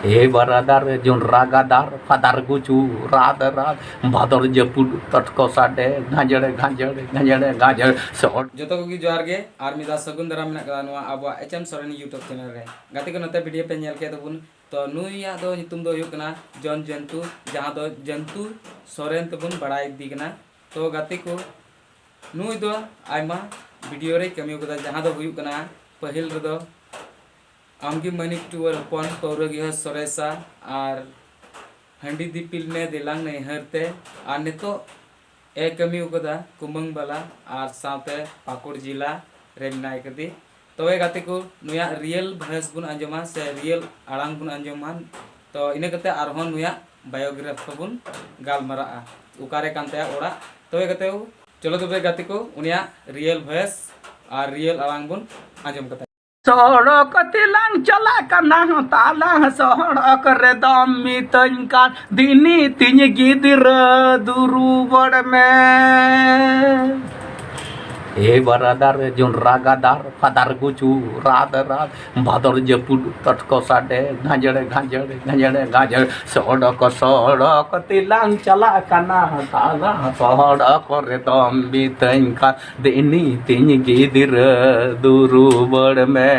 ᱮ ᱵᱟᱨᱟᱫᱟᱨ ᱡᱩᱱ ᱨᱟᱜᱟᱫᱟᱨ ᱯᱷᱟᱫᱟᱨ ᱜᱩᱪᱩ ᱨᱟᱫ ᱨᱟᱫ ᱵᱷᱟᱫᱚᱨ ᱡᱟᱹᱯᱩᱫ ᱛᱚᱴᱠᱚ ᱥᱟᱰᱮ ᱜᱟᱸᱡᱮᱲᱮ ᱜᱟᱸᱡᱮᱲᱮ ᱜᱟᱸᱡᱮᱲᱮ ᱜᱟᱸᱡᱮᱲ ᱥᱚᱦᱚᱨ ᱡᱚᱛᱚ ᱠᱚᱜᱮ ᱡᱚᱦᱟᱨ ᱜᱮ ᱟᱨ ᱢᱤᱫ ᱫᱷᱟᱣ ᱥᱟᱹᱜᱩᱱ ᱫᱟᱨᱟᱢ ᱢᱮᱱᱟᱜ ᱠᱟᱫᱟ ᱱᱚᱣᱟ ᱟᱵᱚᱣᱟᱜ H M Soren YouTube channel ᱨᱮ ᱜᱟᱛᱮ ᱠᱚ ᱱᱚᱛᱮ ᱵᱷᱤᱰᱤᱭᱳ ᱯᱮ ᱧᱮᱞ ᱠᱮᱫ ᱛᱟᱵᱚᱱ ᱛᱚ ᱱᱩᱭᱟᱜ ᱫᱚ ᱧᱩᱛᱩᱢ ᱫᱚ ᱦᱩᱭᱩᱜ ᱠᱟᱱᱟ ᱡᱚᱱ ᱡᱚᱱᱛᱩ ᱡᱟᱦᱟᱸ ᱫᱚ ᱡᱚᱱᱛᱩ ᱥᱚᱨᱮᱱ ᱛᱮᱵᱚᱱ ᱵᱟᱲᱟᱭ ᱤᱫᱤ ᱠᱟᱱᱟ ᱛᱚ ᱜᱟᱛᱮ ᱠᱚ ᱱᱩᱭ ᱫᱚ ᱟᱭᱢᱟ ᱵᱷᱤᱰᱤᱭᱳ ᱨᱮ ᱠᱟᱹᱢᱤ ᱠᱟᱫᱟ ᱡᱟᱦᱟᱸ ᱫᱚ ᱦᱩᱭᱩᱜ ᱠᱟᱱᱟ ᱯᱟᱹᱦᱤᱞ ᱨᱮᱫᱚ ᱟᱢᱜᱮ ᱢᱟᱹᱱᱤᱠ ᱴᱩᱣᱟᱹᱨ ᱦᱚᱯᱚᱱ ᱯᱟᱹᱣᱨᱟᱹ ᱜᱮᱦᱚ ᱥᱚᱨᱮᱥᱟ ᱟᱨ ᱦᱟᱺᱰᱤ ᱫᱤᱯᱤᱞ ᱢᱮ ᱫᱮᱞᱟᱝ ᱱᱟᱹᱭᱦᱟᱹᱨ ᱛᱮ ᱟᱨ ᱱᱤᱛᱚᱜ ᱮ ᱠᱟᱹᱢᱤ ᱟᱠᱟᱫᱟ ᱠᱩᱢᱟᱹᱝ ᱵᱟᱞᱟ ᱟᱨ ᱥᱟᱶᱛᱮ ᱯᱟᱠᱩᱲ ᱡᱤᱞᱟ ᱨᱮ ᱢᱮᱱᱟᱭ ᱠᱟᱫᱮ ᱛᱚᱵᱮ ᱜᱟᱛᱮ ᱠᱚ ᱱᱩᱭᱟᱜ ᱨᱤᱭᱮᱞ ᱵᱷᱚᱭᱮᱥ ᱵᱚᱱ ᱟᱸᱡᱚᱢᱟ ᱥᱮ ᱨᱤᱭᱮᱞ ᱟᱲᱟᱝ ᱵᱚᱱ ᱟᱸᱡᱚᱢᱟ ᱛᱚ ᱤᱱᱟᱹ ᱠᱟᱛᱮ ᱟᱨᱦᱚᱸ ᱱᱩᱭᱟᱜ ᱵᱟᱭᱳᱜᱨᱟᱯᱷ ᱠᱚᱵᱚᱱ ᱜᱟᱞᱢᱟᱨᱟᱜᱼᱟ ᱚᱠᱟᱨᱮ ᱠᱟᱱ ᱛᱟᱭᱟ ᱚᱲᱟᱜ ᱛᱚᱵᱮ ᱜᱟᱛᱮ ᱠᱚ ᱪᱚᱞᱚ ᱛᱚᱵᱮ ᱜᱟᱛᱮ ᱠᱚ ᱩᱱᱤᱭᱟᱜ ᱨᱤᱭᱮᱞ ᱵᱷᱚᱭᱮᱥ ᱟᱨ ᱨᱤᱭᱮᱞ ᱟᱲᱟᱝ ᱵᱚᱱ ᱟᱸᱡᱚᱢ ᱠᱟᱛᱟᱭᱟ ᱥᱚᱲᱚᱠ ᱛᱮᱞᱟᱝ ᱪᱟᱞᱟᱜ ᱠᱟᱱᱟ ᱛᱟᱞᱟᱝ ᱥᱚᱲᱚᱠ ᱨᱮ ᱫᱚᱢ ᱢᱤᱛᱟᱹᱧ ᱠᱟᱱ ᱫᱤᱱᱤ ᱛᱤᱧ ᱜᱤᱫᱽᱨᱟᱹ ᱫᱩᱨᱩᱵᱚᱲ ᱢᱮ ᱮ ᱵᱟᱨᱟᱫᱟᱨ ᱡᱚᱱᱨᱟ ᱜᱟᱫᱟᱨ ᱯᱷᱟᱫᱟᱨ ᱜᱩᱪᱩ ᱨᱟᱫ ᱨᱟᱫ ᱵᱷᱟᱫᱚᱨ ᱡᱟᱹᱯᱩᱫ ᱛᱚᱴᱠᱚ ᱥᱟᱰᱮ ᱜᱷᱟᱸᱡᱲᱮ ᱜᱷᱟᱸᱡᱲᱮ ᱜᱷᱟᱸᱡᱲᱮ ᱜᱷᱟᱸᱡᱲ ᱥᱚᱲᱚᱠ ᱥᱚᱲᱚᱠ ᱛᱮᱞᱟᱝ ᱪᱟᱞᱟᱜ ᱠᱟᱱᱟ ᱛᱟᱞᱟᱝ ᱥᱚᱲᱚᱠ ᱨᱮ ᱫᱚᱢ ᱢᱤᱛᱟᱹᱧ ᱠᱟᱱ ᱫᱮᱱᱤ ᱛᱤᱧ ᱜᱤᱫᱽᱨᱟᱹ ᱫᱩᱨᱩᱵᱟᱹᱲ ᱢᱮ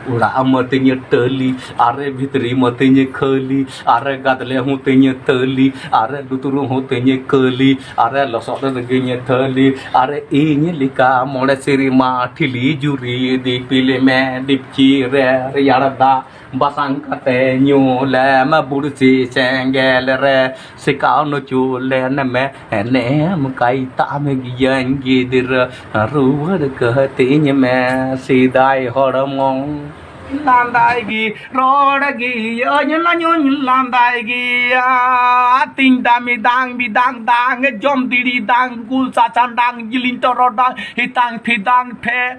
ᱚᱲᱟᱜ ᱢᱟᱹᱛᱤᱧ ᱴᱟᱹᱞᱤ ᱟᱨ ᱵᱷᱤᱛᱨᱤ ᱢᱟᱹᱛᱤᱧ ᱠᱷᱟᱹᱞᱤ ᱟᱨ ᱜᱟᱫᱽᱞᱮ ᱦᱚᱸ ᱛᱤᱧ ᱛᱟᱹᱞᱤ ᱟᱨ ᱞᱩᱛᱩᱨ ᱦᱚᱸ ᱛᱤᱧ ᱠᱟᱹᱞᱤ ᱟᱨ ᱞᱚᱥᱚᱫ ᱨᱮᱜᱮᱧ ᱛᱷᱟᱹᱞᱤ ᱟᱨ ᱤᱧ ᱞᱮᱠᱟ ᱢᱚᱬᱮ ᱥᱮᱨᱢᱟ ᱴᱷᱤᱞᱤ ᱡᱩᱨᱤ ᱫᱤᱯᱤᱞ ᱢᱮ ᱰᱤᱯᱪᱤ ᱨᱮ ᱨᱮᱭᱟᱲ ᱫᱟᱜ ᱵᱟᱥᱟᱝ ᱠᱟᱛᱮ ᱧᱩ ᱞᱮᱢ ᱵᱩᱲᱥᱤ ᱥᱮᱸᱜᱮᱞ ᱨᱮ ᱥᱮᱠᱟᱣ ᱱᱩᱪᱩ ᱞᱮᱱ ᱢᱮ ᱮᱱᱮᱢ ᱠᱟᱭ ᱛᱟᱢ ᱜᱤᱭᱟᱹᱧ ᱜᱤᱫᱽᱨᱟᱹ ᱨᱩᱣᱟᱹᱲ ᱠᱟᱹᱛᱤᱧ ᱢᱮ ᱥᱮᱫᱟᱭ ᱦᱚᱲᱢᱚ ᱞᱟᱸᱫᱟᱭ ᱜᱮ ᱨᱚᱲ ᱜᱮ ᱟᱹᱧ ᱞᱟᱹᱧᱩᱧ ᱞᱟᱸᱫᱟᱭ ᱜᱮ ᱟᱛᱤᱧ ᱫᱟᱢᱤ ᱫᱟᱝ ᱵᱤᱫᱟᱝ ᱫᱟᱝ ᱡᱚᱢ ᱫᱤᱲᱤ ᱫᱟᱝ ᱜᱩᱞ ᱥᱟᱥᱟᱝ ᱫᱟᱝ ᱡᱤᱞᱤᱧ ᱛᱚᱨᱚ ᱫᱟᱝ ᱦᱤᱛᱟᱝ ᱯᱷᱤᱫᱟᱝ ᱯᱷᱮ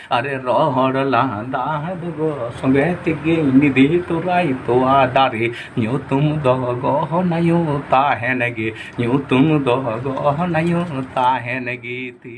ᱟᱨᱮ ᱨᱚᱦᱚᱲ ᱞᱟᱸᱫᱟ ᱫᱚᱜᱚ ᱥᱚᱸᱜᱮ ᱛᱮᱜᱮ ᱱᱤᱫᱤ ᱛᱚᱨᱟᱭ ᱛᱚᱣᱟ ᱫᱟᱨᱮ ᱧᱩᱛᱩᱢ ᱫᱚ ᱜᱚᱦᱚᱱᱟᱭᱩ ᱛᱟᱦᱮᱱ ᱜᱮ ᱧᱩᱛᱩᱢ ᱫᱚ ᱜᱚᱦᱚᱱᱟᱭᱩ ᱛᱟᱦᱮᱱ ᱜᱮ ᱛᱤ